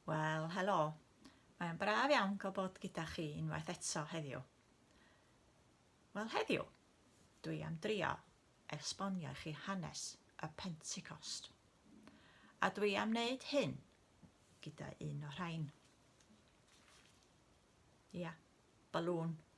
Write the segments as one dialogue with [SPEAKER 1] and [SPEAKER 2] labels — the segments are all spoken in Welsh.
[SPEAKER 1] Wel, helo. Mae'n braf iawn cael bod gyda chi unwaith eto heddiw. Wel, heddiw, dwi am drio esbonio i chi hanes y Pentecost. A dwi am wneud hyn gyda un o rhain. Ia, balŵn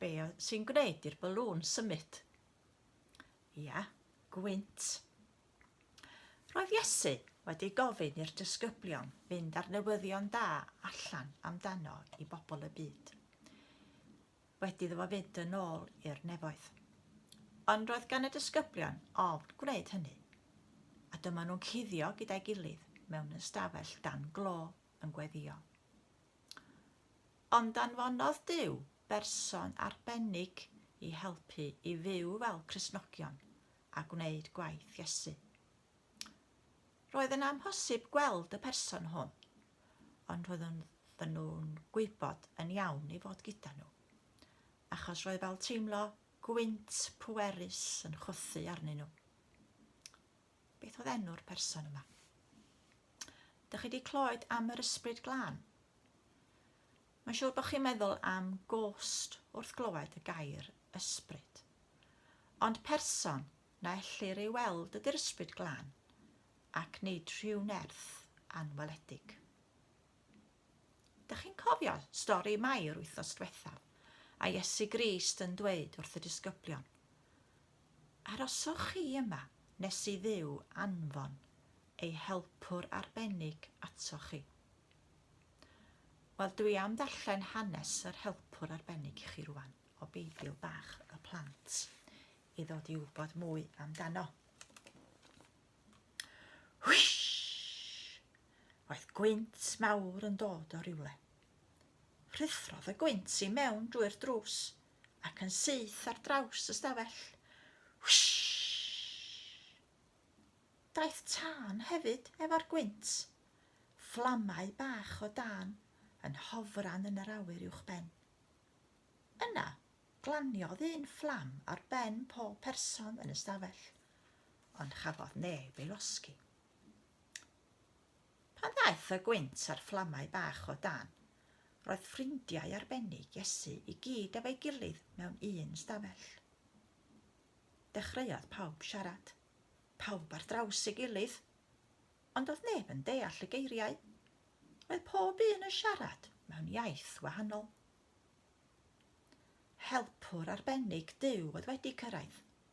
[SPEAKER 1] Be sy'n gwneud i'r balŵn symud? Ia, gwynt. Roedd Iesu wedi gofyn i'r disgyblion fynd â'r newyddion da allan amdano i bobl y byd. Wedi iddo fo fynd yn ôl i'r nefoedd. Ond roedd gan y disgyblion ofn gwneud hynny. A dyma nhw'n cuddio gyda'i gilydd mewn ystafell dan glo yn gweddio. Ond anfonodd Duw berson arbennig i helpu i fyw fel Cristnogion a gwneud gwaith Iesu. Roedd yn amhosib gweld y person hwn, ond roeddwn nhw'n gwybod yn iawn ei fod gyda nhw, achos roedd fel teimlo gwynt pwerus yn chwythu arnyn nhw. Beth oedd enw'r person yma? Dych chi wedi clywed am yr ysbryd glân? Mae'n siŵr bod chi'n meddwl am gost wrth glywed y gair ysbryd. Ond person na ellir ei weld ydy'r ysbryd glân, ac nid rhyw nerth anweledig. Dych chi'n cofio stori Mai yr wythnos diwetha', a Iesu Grist yn dweud wrth y disgyblion, Aroswch chi yma nes i Dduw anfon ei helpwr arbennig atoch chi. Wel, dwi am ddarllen hanes yr helpwr arbennig i chi rwan, o Beibl bach y plant, i ddod i wybod mwy amdano. Hwysh! Roedd gwynt mawr yn dod o rywle. Rhuthrodd y gwynt i mewn drwy'r drws ac yn syth ar draws y stafell. Daeth tân hefyd efo'r gwynt. Fflamau bach o dan yn hofran yn yr awyr uwchben. Yna, glaniodd un fflam ar ben pob person yn y stafell, ond chafodd neb ei losgi. Pan ddaeth y gwynt a'r fflamau bach o dan, roedd ffrindiau arbennig Iesu i gyd efo'i gilydd mewn un stafell. Dechreuodd pawb siarad, pawb ar draws ei gilydd, ond doedd neb yn deall y geiriau. Roedd pob un yn siarad mewn iaith wahanol. Helpwr arbennig Duw oedd wedi cyrraedd.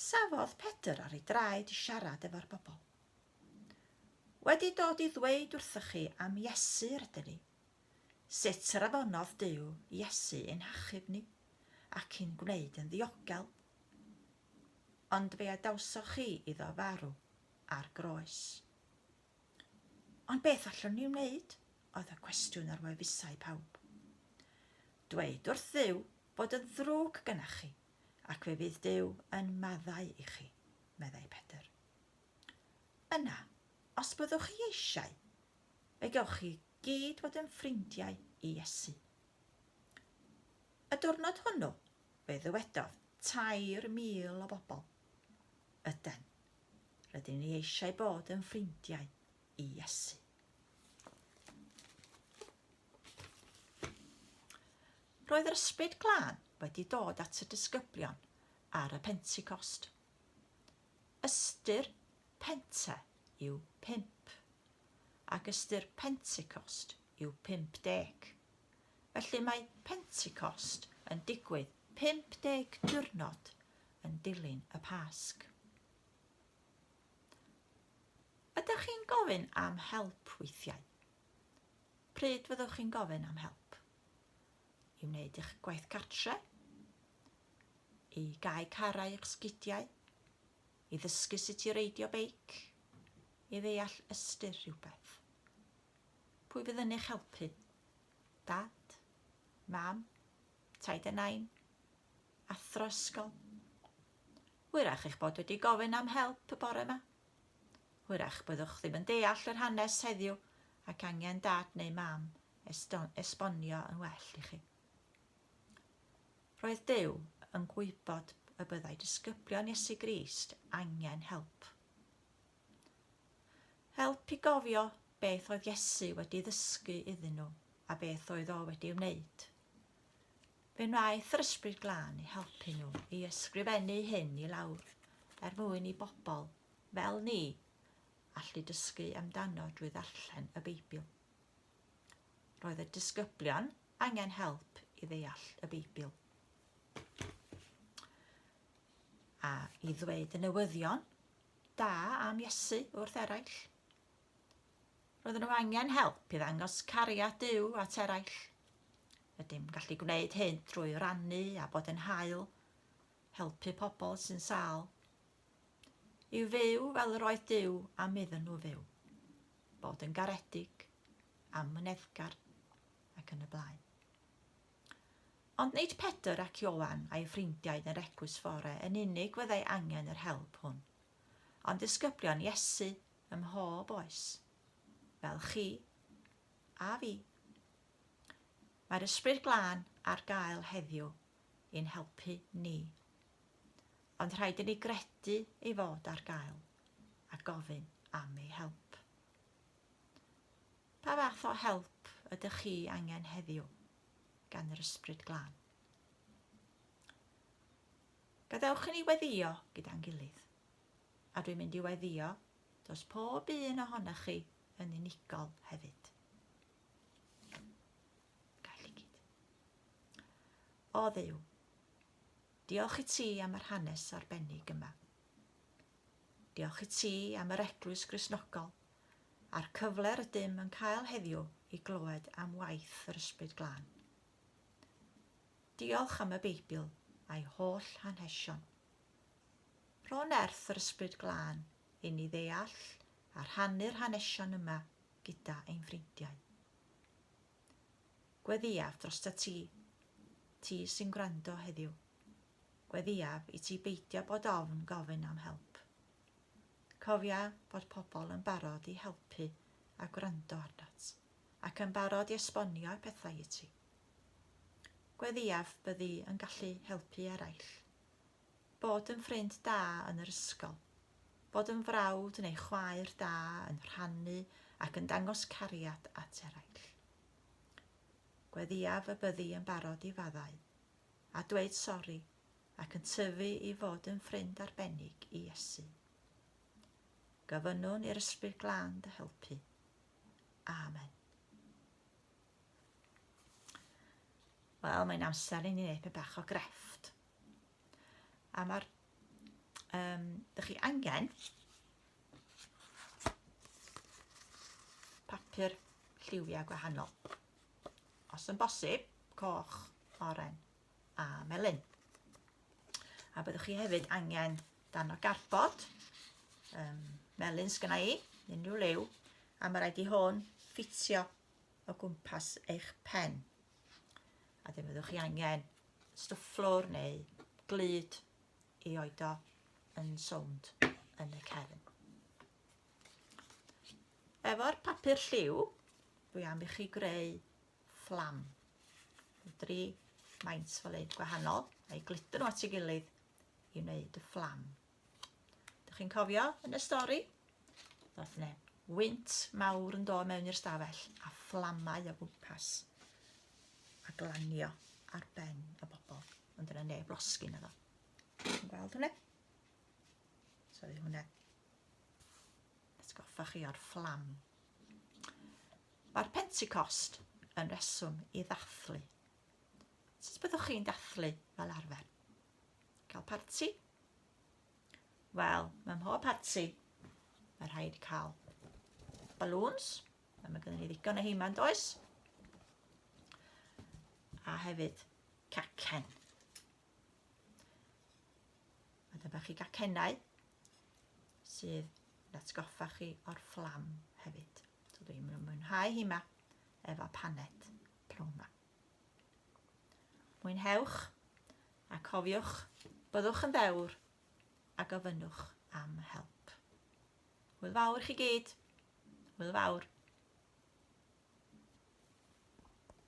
[SPEAKER 1] Safodd Pedr ar ei draed i siarad efo'r bobl. Wedi dod i ddweud wrthoch chi am Iesu rydyn ni. Sut yr afonodd Duw Iesu i'n hachub ni ac i'n gwneud yn ddiogel? Ond fe adawsoch chi iddo farw ar groes. Ond beth allwn ni wneud? oedd y cwestiwn ar wefusau pawb. Dweud wrth Dduw fod yn ddrwg gynnach chi. ac fe fydd Duw yn maddau i chi, meddai Pedr. Yna, os byddwch chi eisiau, fe gewch chi gyd fod yn ffrindiau i Iesu. Y diwrnod hwnnw, fe ddywedodd tair mil o bobl, Yden, rydyn ni eisiau bod yn ffrindiau i Iesu. Roedd yr Ysbryd Glân wedi dod at y disgyblion ar y Pentecost. Ystyr Pente yw pump, ac ystyr Pentecost yw 50. Felly mae Pentecost yn digwydd 50 diwrnod yn dilyn y Pasg. Ydych chi'n gofyn am help weithiau? Pryd fyddwch chi'n gofyn am help? I wneud eich gwaith cartre? I gau carau eich sgidiau? I ddysgu sut i reidio beic? I ddeall ystyr rhywbeth? Pwy fydd yn eich helpu? Dad? Mam? Taid a nain? Athro ysgol? Hwyrach eich bod wedi gofyn am help y bore yma. Hwyrach byddwch ddim yn deall yr hanes heddiw ac angen dad neu mam esbonio yn well i chi. Roedd Duw yn gwybod y byddai disgyblion Iesu Grist angen help. Help i gofio beth oedd Iesu wedi ddysgu iddyn nhw a beth oedd o wedi wneud. Fe wnaeth yr Ysbryd Glân i helpu nhw i ysgrifennu hyn i lawr er mwyn i bobl fel ni allu dysgu amdano drwy ddarllen y Beibl. Roedd y disgyblion angen help i ddeall y Beibl. A i ddweud y newyddion da am Iesu wrth eraill. Roedden nhw angen help i ddangos cariad Duw at eraill. Ydym gallu gwneud hyn drwy rannu a bod yn hael, helpu pobl sy'n sal. I'w fyw fel yr oedd Duw am iddyn nhw fyw. Bod yn garedig, amyneddgar ac yn y blaen. Ond nid Pedr ac Iowan a'i ffrindiau yn yr eglwys fore yn unig fyddai angen yr help hwn, ond disgyblion Iesu ym mhob oes, fel chi a fi. Mae'r Ysbryd Glân ar gael heddiw i'n helpu ni. Ond rhaid i ni gredu ei fod ar gael a gofyn am ei help. Pa fath o help ydych chi angen heddiw gan yr Ysbryd Glân? Gadewch i ni weddio gyda'n gilydd. a dwi'n mynd i weddio dros pob un ohonoch chi yn unigol hefyd. Gael i gyd. O ddew, diolch i ti am yr hanes arbennig yma. Diolch i ti am yr eglwys grisnogol a'r cyfle rydym yn cael heddiw i glywed am waith yr Ysbryd Glân. Diolch am y Beibl a'i holl hanhesion. Pro nerth yr Ysbryd Glân i ni ddeall a rhannu'r hanesion yma gyda ein ffrindiau. Gweddïaf drosta ti, ti sy'n gwrando heddiw. Gweddïaf i ti beidio bod ofn gofyn am help. Cofia bod pobl yn barod i helpu a gwrando arnat, ac yn barod i esbonio pethau i ti. Gweddïaf byddi yn gallu helpu eraill. Bod yn ffrind da yn yr ysgol. Bod yn frawd neu chwaer da yn rhannu ac yn dangos cariad at eraill. Gweddïaf y byddi yn barod i faddau, a dweud sori, ac yn tyfu i fod yn ffrind arbennig i Iesu. Gofynnwn i'r Ysbryd Glân dy helpu. Amen. Wel, mae'n amser i ni wneud pe bach o grefft. A mae'r... Um, dych chi angen papur lliwiau gwahanol. Os yn bosib, coch, oren a melyn. A byddwch chi hefyd angen dan o garbod, um, melyn sgyna i, unrhyw liw, a mae rhaid i hwn ffitio o gwmpas eich pen. A ddim fyddwch chi angen stwff fflwr neu glyd i oedo yn sownd yn y cefn. Efo'r papur lliw, dwi am i chi greu fflam. Dri maint fel ein gwahanol, a'i glityn nhw at ei gilydd i wneud y fflam. Dych chi'n cofio yn y stori? Ddoth ne wynt mawr yn dod mewn i'r stafell a fflamau o gwmpas a glanio ar ben y bobl. Ond dyna neb losgi na ddo. Yn gweld hwnna? Sori hwnna. Atgoffa chi o'r fflam. Mae'r Pentecost yn reswm i ddathlu. Sut byddwch chi'n dathlu fel arfer? Cael parti? Wel, mae mhob parti, mae rhaid cael balloons, a mae gennym ni ddigon o heiman does? A hefyd cacen. A dyma chi gacenau sydd yn atgoffa chi o'r fflam hefyd. So dwi'n mwynhau hi ma efo paned plwm Mwynhewch, a cofiwch, byddwch yn ddewr, a gofynnwch am help. Hwyl fawr i chi gyd. Hwyl fawr.